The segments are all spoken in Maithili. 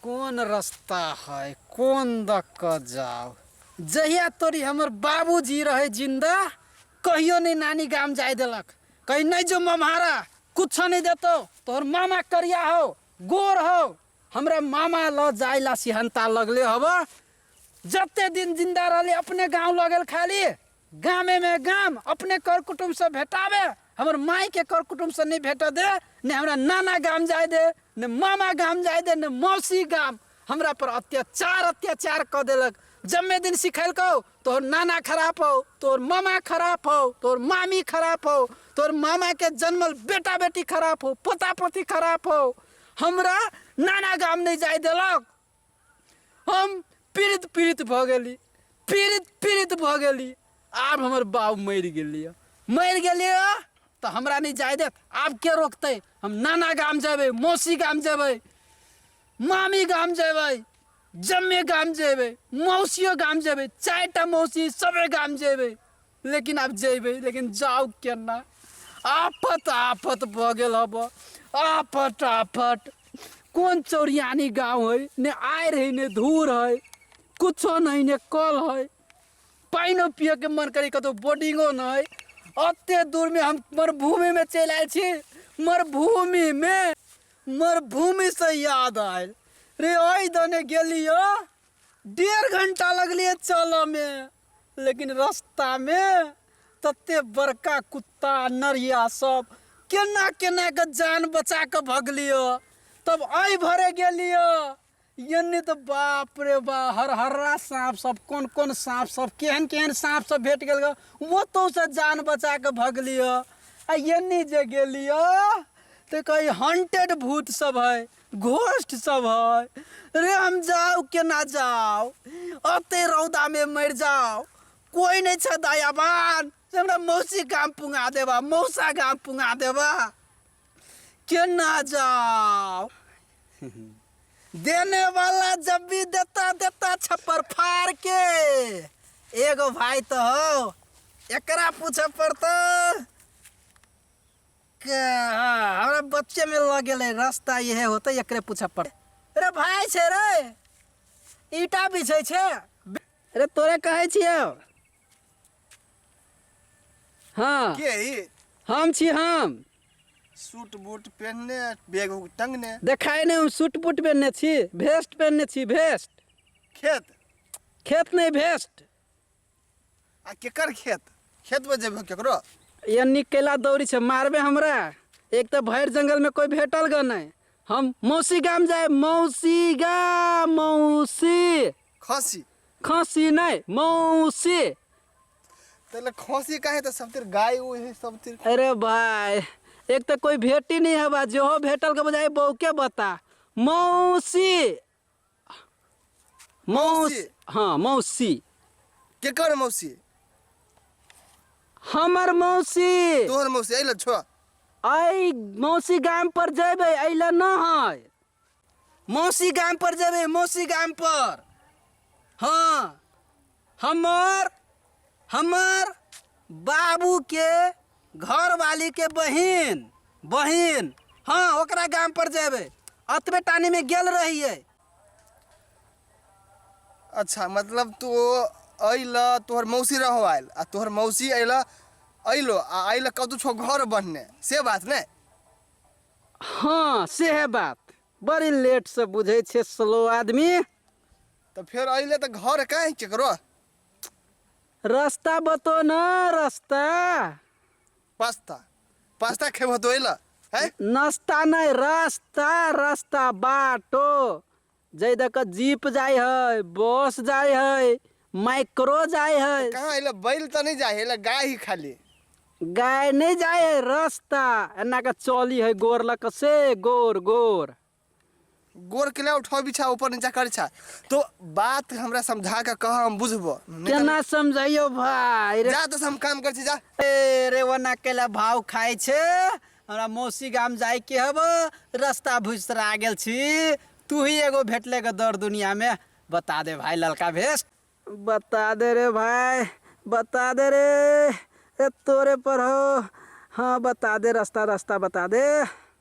कोन रास्ता है कोन द क जाओ जहिया तोरी हमर बाबूजी रहे जिंदा कहियो नहीं नानी गाम जाए देलक कहीं नहीं जो मम्हारा कुछ नहीं देतो तोहर मामा करिया हो गोर हो हमरा मामा ल जाए ला सिहंता लगले हवा जते दिन जिंदा रहले अपने गांव लगल खाली गामे मे गाम अपने कर कुटुम्ब से भेटावे हमर माई के कर कुटुम्ब से नहीं भेट दे ने हमरा नाना गाम जाए दे ने मामा गाम जाए दे ने मौसी गाम हमरा पर अत्याचार अत्याचार क देलक जम्मे दिन सिखैलकौ तोहर नाना खराब हो तोहर मामा खराब हो तोहर मामी खराब हो तोहर मामा के जन्मल बेटा बेटी खराब हो पोता पोती खराब हो हमरा नाना गाम नहीं जाए देलक हम पीड़ित पीड़ित भऽ गेली पीड़ित पीड़ित भऽ गेली आब हमर बाप मरि गेलियै मरि गेलियै तऽ हमरा नहि जाय देत आब के रोकतै हम नाना गाम जेबै मौसी गाम जेबै मामी गाम जेबै जम्मे गाम जेबै मौसियो गाम जेबै चारिटा मौसी सभे गाम जेबै लेकिन आब जेबै लेकिन जाउ केना आफत आफत भऽ गेल हब आफत आफत कोन चौरियानी गाँव है ने आयर है ने धूर है कुछो नहि ने कल है पानिओ पियैके मन करै कतहु बोर्डिंगो नहि एते दूरमे हम मरुभूमिमे चलि आयल छी मरुभूमिमे मरुभूमिसँ याद आयल रे ओहि दने गेलियो डेढ़ घंटा लगलियै चलऽमे लेकिन रस्तामे तते बड़का कुत्ता नरिया सब केना केना के जान बचा के भगलियो तब आई भरे गेलियो यानी तो बाप रे बा हर हर्रा सांप सब कोन कोन सांप सब केहन केहन सांप सब भेट गेल वो तो से जान बचा के भगलियो आ यानी जे गेलियो तो कहीं हंटेड भूत सब है घोष्ट सब है रे हम जाओ केना जाओ अते रौदा में मर जाओ कोई नहीं छ दयावान से हमरा मौसी गाम पुंगा देबा मौसा गाम पुंगा देबा केना जाओ देने वाला जब भी देता देता छप्पर फाड़ के एगो भाई तो हो एकरा पूछे पड़ता के हाँ, हमरा बच्चे में लग गेले रास्ता यह होते एकरे पूछा पड़े अरे भाई छे रे ईटा बिछे छे अरे तोरे कहे छियो हाँ के ई हम छी हम सूट बूट पहनने बैग उग टंगने देखाई नहीं हम सूट बूट पहनने छी भेस्ट पहनने छी भेस्ट खेत खेत नहीं भेस्ट आ केकर खेत खेत पर जेबे केकरो ये निक कैला दौड़ी छै मारबे हमरा एक तऽ भरि जंगलमे कोइ भेटल ग नहि हम मौसी गाम जाय मौसी गाम मौसी खसी खसी नहि मौसी तैले खसी काहे तऽ सब तिर गाय उ है सब तिर अरे भाय एक तऽ कोइ भेटी नहि हवा जेहो भेटल ग बजाय बौके बता मौसी मौस मौसी। हँ मौसी केकर मौसी हमर मौसी तोहर मौसी अइल छो अइ मौसी गाम पर जेबै अइ लए न है मौसी गाम पर जेबै मौसी गाम पर हँ हमर हमर बाबूके घरवालीके बहिन बहिन हँ ओकरा गाम पर जेबै अतबे टानीमे गेल रहियै अच्छा मतलब तू अइल तोहर मौसी रहो आयल आ तोहर मौसी अइल अइलो आ अइल कतौ छो घर बनने से बात ने हँ सेहे बात बड़ी लेट से बुझै छै स्लो आदमी तऽ फेर अइले तऽ घर काहे केकरो रस्ता बतो न रस्ता पास्ता पास्ता खेबहो तो अइलऽ है नस्ता नै रस्ता रस्ता बाटो जै दऽ कऽ जीप जाइ हइ बस जाइ हइ माइक्रो जाइ तऽ हइ कहाँ अइलऽ बैल तऽ नहि जाइ अइलऽ गाय ही खाली गाय नै जाइ हइ रस्ता एना कऽ चली हइ गोर लऽ कऽ से गोर गोर गोर के ला उठाओ बिछा ऊपर नीचा कर छा तो बात हमरा समझा के कह हम बुझबो नहीं तो- केना समझाइयो भाई रे जा तो हम काम कर छी जा ए, रे वना केला भाव खाय छे हमरा मौसी गाम जाय के हब रास्ता भुसरा गेल छी तू ही एगो भेटले के दर दुनिया में बता दे भाई ललका भेस बता दे रे भाई बता दे रे ए तोरे पर हो हाँ बता दे रास्ता रास्ता बता दे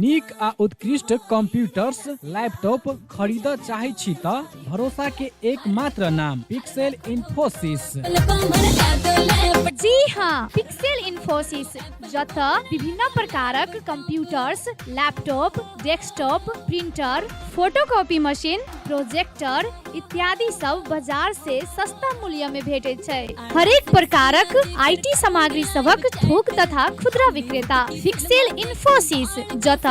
नीक आ उत्कृष्ट कंप्यूटर्स लैपटॉप खरीद चाहे छी त भरोसा के एकमात्र नाम पिक्सेल इन्फोसिस जी हाँ पिक्सेल इन्फोसिस जत विभिन्न प्रकारक computers laptop desktop printer photocopy machine projector इत्यादि सब बाजार से सस्ता मूल्य में भेटे छै हरेक प्रकारक आईटी सामग्री सबक थोक तथा खुदरा विक्रेता फिक्सेल इन्फोसिस जत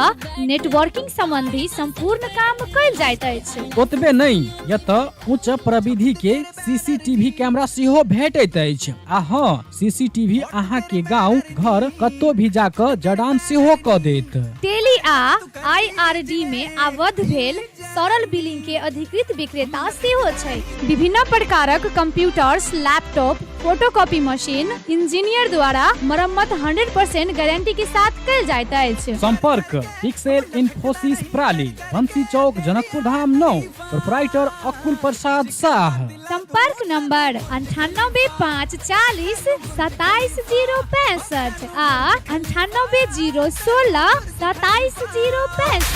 नेटवर्किंग संबंधी संपूर्ण काम कल जाइत अछि ओतबे नहीं यत उच्च प्रविधि के सीसीटीवी कैमरा सेहो भेटैत अछि आ हाँ सीसीटीवी अहाँ के गांव घर कतो भी जाकर जड़ान सेहो क देत टेली आ आईआरडी में आबद्ध भेल तरल बिलिंग के अधिकृत विक्रेता सेहो छै विभिन्न प्रकारक computers laptop photocopy machine engineer द्वारा मरम्मत 100% गारंटी के साथ कल जाइत अछि संपर्क पिक्सेल इन्फोसिस प्राली बंसी चौक जनकपुर धाम नौ प्रोपराइटर अकुल प्रसाद शाह संपर्क नंबर अंठानबे पाँच चालीस सताइस जीरो पैंसठ आ अंठानबे जीरो सोलह सताइस जीरो पैंसठ